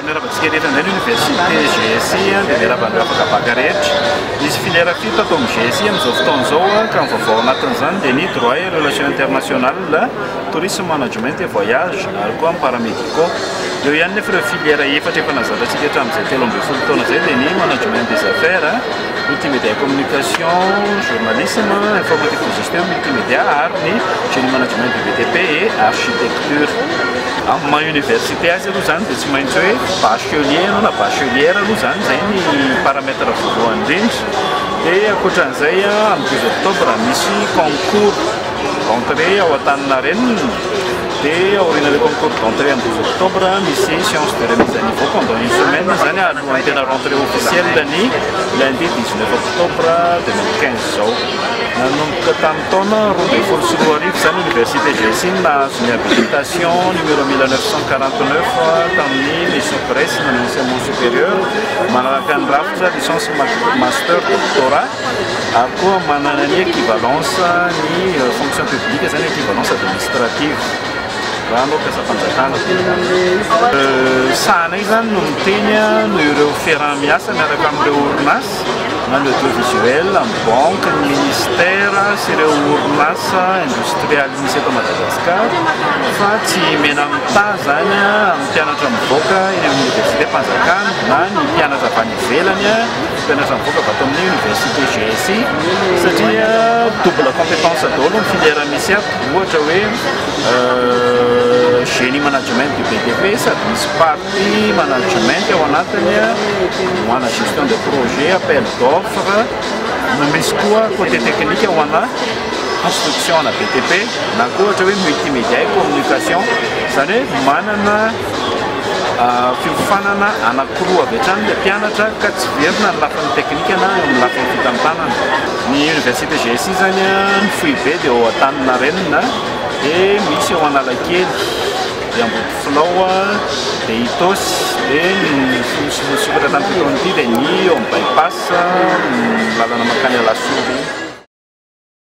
Miarahaba antsika rehetra indray ny Université GSI dia miarahaba an'ireo vakabaka rehetra. Misy filière fito ato amin'ny GSI amin'izao fotoana izao ka ny vaovao anatin'izany dia ny droit et relations internationales, tourisme management et voyage ary koa ny paramédicaux. Eo ihany nefa ireo filière efatra efa nahazatantsika hatramin'izay telo ambin'ny folo taona izay dia ny management des affaires, Multimédia et communication, journalisme, informatique de gestion, multimédia ary ny génie management du BTP et architecture. Amin'ny maha université azy aloha izany dia tsy maintsy hoe bachelier ianao na bachelière aloha izany, izay ny paramètre voalohany indrindra. Dia ankoatran'izay amin'ny 12 octobre misy concours d'entrée ao Antaninarenina. Dia aorian'ilay concours d'entrée amin'ny douze octobre, misy séance de remise à niveau pendant une semaine izany alohan'ny tena rentrée officielle-ny lundi dix neuf octobre deux mille quinze izao. Nanomboka tamin'ny taona roa ambin'ny folo sy roa arivo izany Université GSI no nahazo ny habilitation numéro mille neuf cent quarante neuf tamin'ny Maison Grèce nanao enseignement supérieur manaraka ny rafitra licence, master, doctorat. ary koa manana ny equivalence ny fonction publique izay ny equivalence administrative raha hanao mpiasam-panjakana sahanay izany no miteny no ireo fiaraha miasa miaraka amin'ireo orinasa na ny audiovisuel, ny banque, ny ministère sy ireo orinasa industriel misy eto Madagascar fa tsy mena mitaha izany amin'ny mpianatra mivoaka eny amin'ny université-mpanjakana na ny mpianatra avy any ivelany Mpianatra mivoaka avy ato amin'ny Université GSI satria double compétence daholo ny filière misy ato. Ohatra hoe génie management du BTP sady misy partie management ao anatiny, ho ana gestion de projet, appel d'offre, no misy koa côté technique ho ana construction ana BTP na koa ohatra hoe multimédia et communication. Izany hoe manana Fiofanana anankiroa avy hatrany ilay mpianatra ka tsy very-na ny lafiny teknika na eo amin'ny lafiny fitantanana. Ny Université GSI izany ny foibe dia ao Antaninarenina dia misy ao Analakely dia Ambodifilao dia Itaosy dia ny nosy voasokatra tamin'ity taona ity dia ny eo amin'ny By-pass ny lalana mankany Alasora iny.